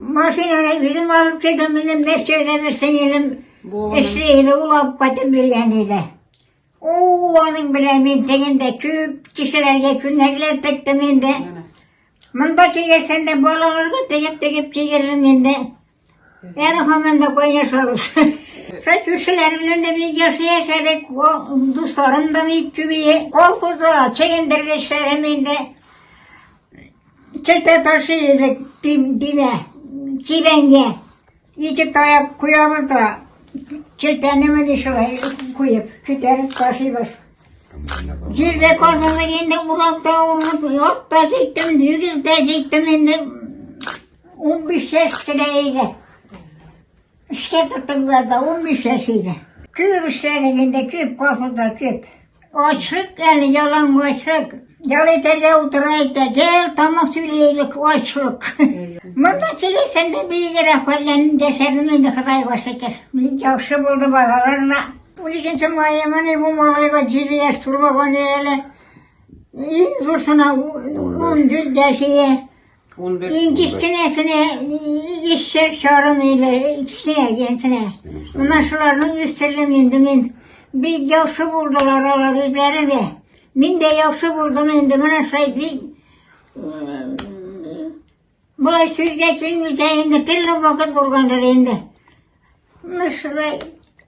Машинаны үзем алып килдем, менә Мәскәүдә бер сеңелем эшли иде, ул алып кайтып биргән иде. Ул аның белән мин тегендә күп кешеләргә күнәкләп тектем инде. Монда килгәсен дә балаларга тегеп-тегеп кигердем инде. Әле һаман да кайнашабыз. Шул күршеләр белән дә бик яхшы яшәдек, дусларым да бик күбәе. Колхозда чегендерде эшләрем инде. Чәтә ташы идек димә, чибәнгә. Ике таяк куябыз да, чәтәне менә шулай куеп, күтәреп ташыйбыз. Җирдә казаны инде уракта урып, ат та җиттем, дигез дә җиттем инде. Унбиш яшь кенә иде. Эшкә тотындылар да, унбиш яшь иде. Күп эшләдек инде, күп кафеда, күп. Ачлык әле, ялангачлык. Ял итәргә утыра икән, гел тамак сөйләйдек, ачлык. Монда килгәсәндә биегрәк хәлләнеп яшәдем инде, Ходайга шөкер. Бик яхшы булды балалар да. Уникенче маемыни бу малайга җиде яшь тулмаган әле. Иң зурсына ундүрт яшь иде. 11. Иң кечкенәсенә ишер чарын или кечкенә дигәнсенә. Менә шуларның үстердем инде мин. Бик яхшы булдылар алар үзләре дә. Мин дә яхшы булдым инде менә шулай бик болай сүзгә килмичә инде төрле вакыт булгандыр инде. Менә шулай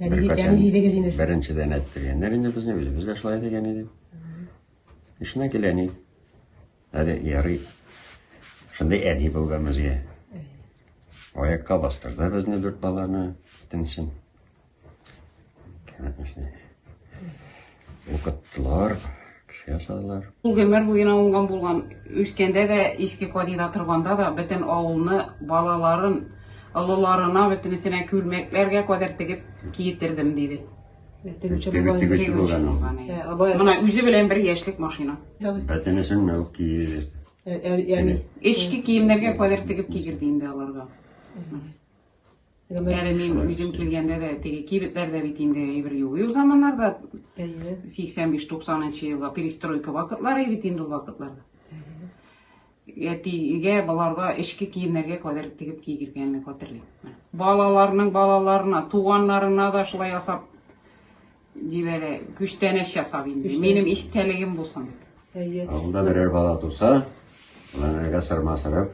Беренчедән әттергәннәр инде безне, үзебез дә шулай дигән иде. Эшенә килә ни. Әле ярый. Шундый әни булган безгә. Аякка бастырды безне дүрт баланы, итенчен. Кәмәтмешне. Укыттылар, кеше ясадылар. Ул гомер буена уңган булган, үскәндә дә, иске кадида торганда да бөтен авылны, балаларын, олыларына бөтенесенә күлмәкләргә кадәр тегеп киетердем, диде. Тегүче Теге булган. тегүче булган ул. Ә, Абай, Мына үзе белән бер яшьлек машина. Бәтенесен мә ул киерде. ә- ә- ями. Эчке киемнәргә кадәр тегеп кигерде инде аларга. Әле мин үзем килгәндә дә теге кибетләрдә бит инде әйбер юк. Ул заманнарда 85-90 елга перестройка вакытлары бит инде ул вакытларда. Әтигә баларга эчке киемнәргә кадәр тегеп кигергәнне хәтерлим. Балаларның балаларына, туганнарына да шулай ясап Диләрә, күчтәнәч ясап инде. Күчтәнәч. Минем истәлегем булсын. Әйе. Авылда берәр бала туса, аларга сырма сырып,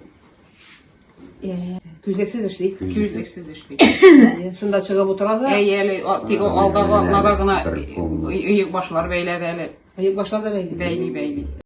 Әйе. Күзлексез эшли. Күзлексез эшли. Әйе. Шунда чыгып утыра да. Әйе, әле а, тик Аны алдагы белән атнада гына бер ком. и- иек башлар бәйләде әле. Аяк башлар да бәйли. Бәйли, бәйли.